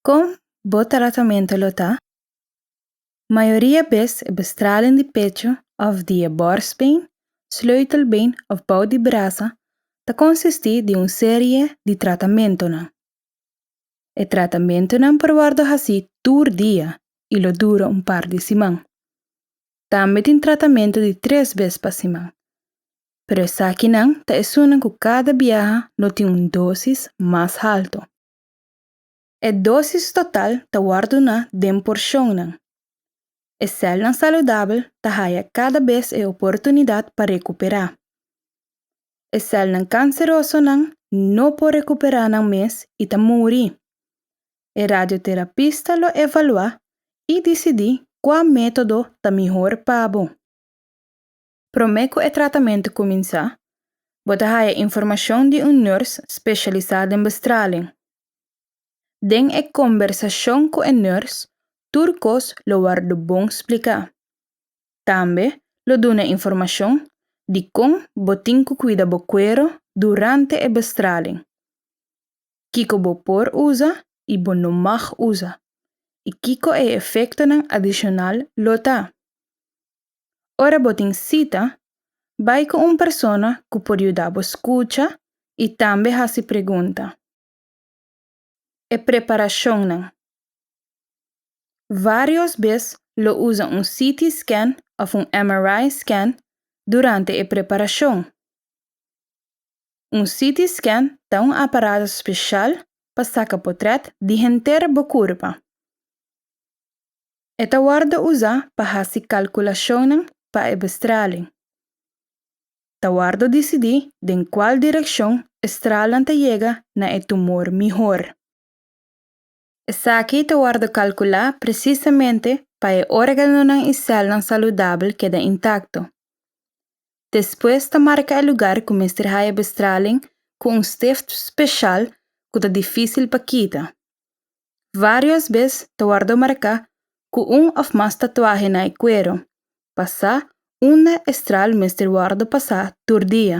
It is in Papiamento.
Kon bo tratamentu lo ta? Mayoria bes e bestraling di pecho òf di e bòrstbeen, sleutelbeen òf bou di brasa ta konsistí di un serie di tratamentunan. E tratamentunan por wòrdu hasí tur dia i lo dura un par di siman. Tambe tin tratamentu di tres bes pa siman. pero esakinan ta esunnan ku kada biaha lo tin un dosis mas haltu. E dosis total ta wòrdu duná den porshonnan. E sèlnan saludabel ta haya kada bes e oportunidat pa rekuperá. E sèlnan kanserosonan no por rekuperá nan mes i ta muri. E radioterapista lo evaluá i disidí kua método ta mihor pa bo. Promé ku e tratamentu kuminsá, bo ta haya informashon di un nurse speshalisá den bestraling. Den e kombersashon ku e nurse, tur kos lo wòrdu bon spliká. Tambe lo duna informashon di kon bo tin ku kuida bo kuero durante e bestraling, kiko bo por usa i bo no mag usa, i kiko e efektonan adishonal lo ta. Ora bo tin sita, bai ku un persona ku por yuda bo skucha i tambe hasi pregunta. E preparashonnan. Vários bes lo usa un CT scan òf un MRI scan durante e preparashon. Un CT scan ta un aparato speshal pa saka potrèt di henter bo kurpa. E ta wordo usa pa hasi kalkulashonnan pa e bestralen. Ta wordo disidi den kual direkshon e stralnan ta yega na e tumor mihor. Esaki ta wordo kalkulá presisamente pa e organonan i sèlnan saludabel keda intakto. Despues ta marka e lugar ku mester haya e bestralen ku un stift speshal ku ta difísil pa kita. Vários bes ta wòrdu marká ku un òf mas tatuahe na e kuero, pasá unda e stral mester wòrdu pasá tur dia.